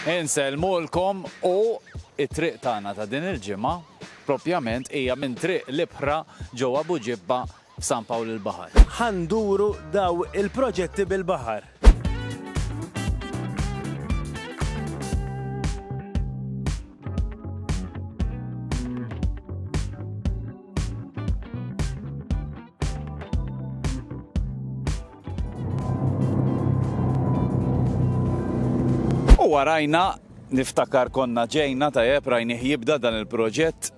Insellmulkom u t-triq tagħna ta' din il-ġimgħa propjament hija minn Triq l-Ibħra ġewwa Buġibba f'San Pawl il-Baħar. Ħa nduru daw il-proġetti bil-baħar. U warajna, niftakar konna ġejna tajjeb rajnih jibda dan il-proġett,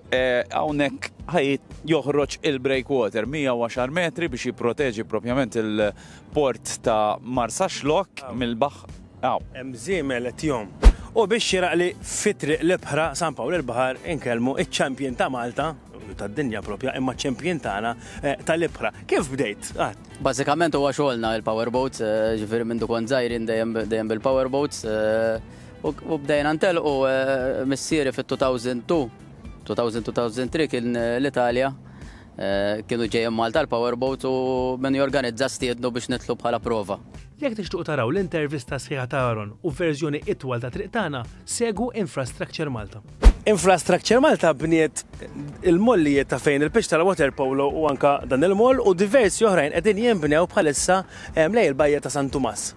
hawnhekk ħajt joħroġ il-breakwater 110 metri biex jipproteġi propjament il-port ta' Marsaxlokk mill-baħħ. Hawn. Hemm żiemel qed jgħum. U biex xieraq li fi Triq l-Ibħra, San Pawl il-Baħar, inkellmu ċ-champion ta' Malta, u tad-dinja propja, imma ċ-champion tagħna tal-ibħra. Kif bdejt? Bażikament huwa xogħolna il-power boats, ġifieri mindu kont żgħir jien dejjem bil-power boats. U bdejna ntelqu missieri fit-2002, 2002-2003 kien l-Italja kienu ġejjin Malta l-power boats u min jorganizza stiednu biex nidħlu bħala prova. Jekk tixtiequ taraw l-intervista sħiħa ta' Aaron u verżjoni itwal ta' Triq Tagħna, segwu Infrastructure Malta. Infrastructure Malta bniet il-mollijiet ta' fejn il-pitch tal-water polo u anka dan il-moll u diversi oħrajn qegħdin jinbnew bħalissa hemm lej il-bajja ta' San Tumas.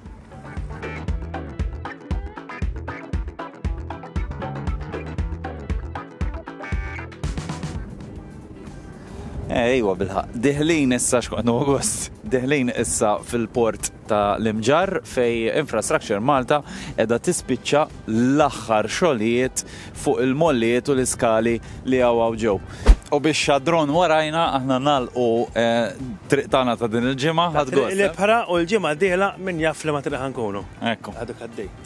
Ejwa bilħaq, diħlin issa x'kont August, diħlin issa fil-port ta' l-Imġarr fejn Infrastructure Malta qiegħda tispiċċa l-aħħar xogħlijiet fuq il-mollijiet u l-iskali li hawn hawn ġew. U bix-xadron warajna aħna nagħlqu t-triq tagħna ta' din il-ġimgħa. Tat-Triq l-Ibħra u l-ġimgħa d-dieħla min jaf f'liema triq ħa nkunu. Ekku. Għadu għaddej.